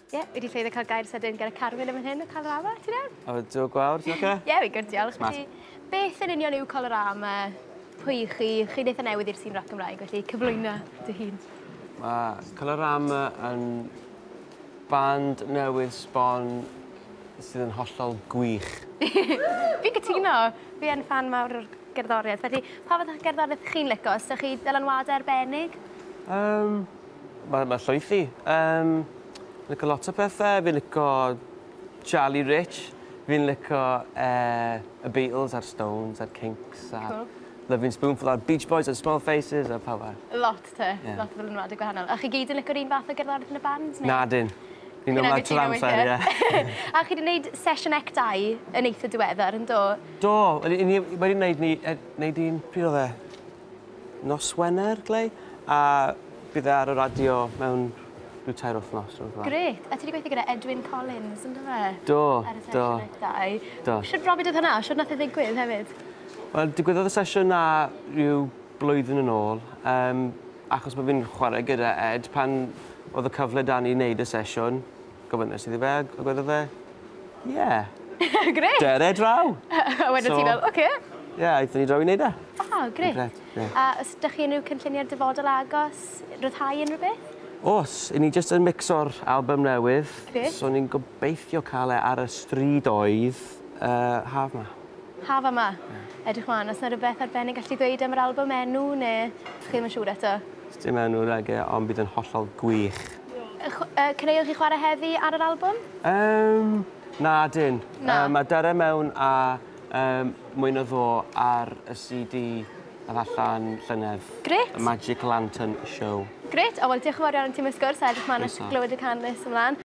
Ie, yeah, wedi ffeiddio cael gair sydyn gyda Carwyn yn fan hyn o Colorama, ti'n iawn? O, dwi gwawr, ti'n oce? Ie, fi'n gwrdd, diolch. Felly, beth yn union yw Colorama? Pwy i chi? Chi'n eitha newydd i'r sîn rock Gymraeg, felly cyflwyna dy hun. Mae Colorama yn band newydd sbon sydd yn hollol gwych. Fi'n cytuno. Fi yn fan mawr o'r gerddoriaeth. Felly, pa fath o gerddoriaeth chi'n licio? Os ydych chi dylanwadau arbennig? Um, Mae mae llwyth i yym lico lot o pethe fi'n lico Charlie Rich fi'n lico yy y Beatles a'r Stones a'r Kinks a... Cŵl. ...Lovin' Spoonful a'r Beach Boys and Small Faces a pawb arall. Lot te. Ie. Lot o ddylanwade gwahanol. A chi gyd yn lico'r un fath o gerddorieth yn y band ne'? Nadyn. Fi'n me'wl mai trw'r amser ie. A chi 'di neud sesiwn ec dau yn eitha diweddar yndo? Do. Wel 'yn ni wedi neud ni yy neud un pryd odd e? Nos Wener, Glei, a bydd e ar y radio mewn rhyw tair wythnos, rhywbeth fel 'na. Grêt! A ti 'di gweithio gyda Edwyn Collins, yndyfe? Do, do. Ar y sesiwn eitha i. Do. Shwt brofiad oedd hwnna? Shwt nath e ddigwydd hefyd? Wel, digwyddodd y sesiwn 'na rhyw blwyddyn yn ôl, yym, achos bo' fi'n chware gyda Ed, pan o'dd y cyfle 'da ni i neud y sesiwn, Gofynes iddi fe a gwedodd e ie. Grêt! Cer e draw! A wedyn ti fel oce. Ie aethon ni draw i neud e. O grêt. Grêt ie. A os 'dych chi unrhyw cynlluniau'r dyfodol agos? Rhyddhau unrhyw beth? O's, 'yn ni jyst yn micso'r albym newydd. Grêt. So ni'n gobeithio ca'l e ar y strydoedd yy haf 'ma. Haf yma? Ie. Edrych mlan. O's 'na rwbeth arbennig allet ti ddweud am yr albym, enw ne' chi ddim yn siŵr eto? Sdim enw nage ond bydd yn hollol gwych. Caneuon chi'n chwarae heddi ar yr albwm? Yym, na dyn. Na. Yy ma' Dare Mewn a yym Mwy Na Ddo ar y CD ath allan llynedd. Grêt. Y Magic Lantern Show. Grêt, o wel diolch yn fawr iawn i ti am y sgwrs a edrych mlan at... Croeso. ...glywed y can nes ymlan.